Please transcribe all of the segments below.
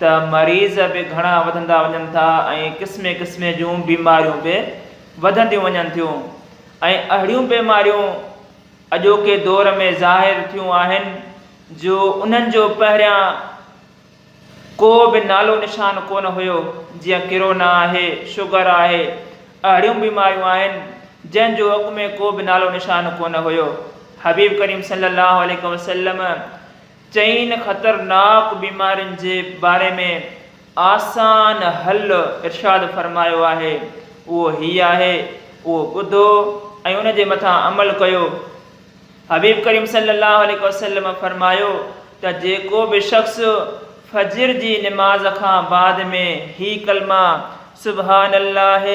ته مريض به گهڻا وڌندا وڃن ٿا ۽ قسمي قسمي جون بيماريون به وڌنديون وڃن ٿيون ۽ اهڙيون بيماريون اڄوڪي دور ۾ ظاهر ٿيون آهن جو انهن جو پهريان ڪو به نالو نشان ڪونه هيو جيئن ڪرونا آهي شگر آهي اهڙيون بيماريون آهن جنهن جو اڳ ۾ ڪو به نالو نشان ڪونه هيو حبيب ڪريم صلي الله عليه وسلم چئن خطرناڪ بيمارين جي باري ۾ آسان حل ارشاد فرمايو آهي اهو هي آهي اهو ٻڌو ۽ ان جي مٿان عمل ڪيو حبيب ڪريم صلي الله عليه وسلم فرمايو ته جيڪو به شخص فجر جي نماز کان بعد ۾ هي ڪلما سبحان الله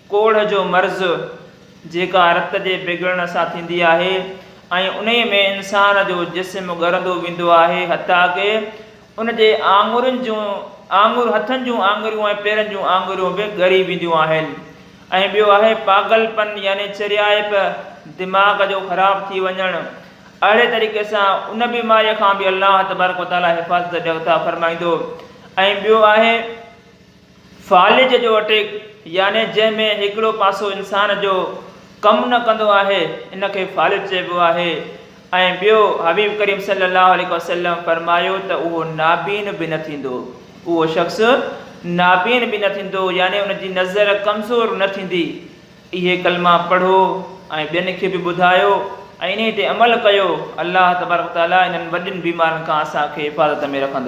ڪوڙهه جو مرض، جيڪا رت جي بگڙڻ سان ٿيندي آهي ۽ انهيء ۾ انسان جو جسم ڳرندو ويندو آهي، حتيٰ ڪه ان جي آڱرين جون آڱر هٿن جون آڱريون ۽ پيرن جون آڱريون به ڳري وينديون آهن ۽ ٻيو آهي پاگل پن يعني چريائپ، دماغ جو خراب ٿي وڃڻ، اهڙي طريقي سان ان بيماريء کان به الله تبارڪ وتعاليٰ حفاظت جي عطا فرمائيندو ۽ ٻيو آهي. فالج جو اٽيڪ يعني جنهن ۾ هڪڙو پاسو انسان جو ڪم نه ڪندو آهي ان کي فالج چئبو آهي ۽ ٻيو حبيب ڪريم صلي الله عليه وسلم فرمايو ته اهو نابين به نه ٿيندو اهو شخص نابين به نه ٿيندو يعني ان جي نظر ڪمزور نه ٿيندي اهي ڪلما پڙهو ۽ ٻين کي به ٻڌايو ۽ انهي تي عمل ڪيو الله تبارڪ وتعالي انهن وڏين بيمارين کان اسان کي حفاظت ۾ رکندو.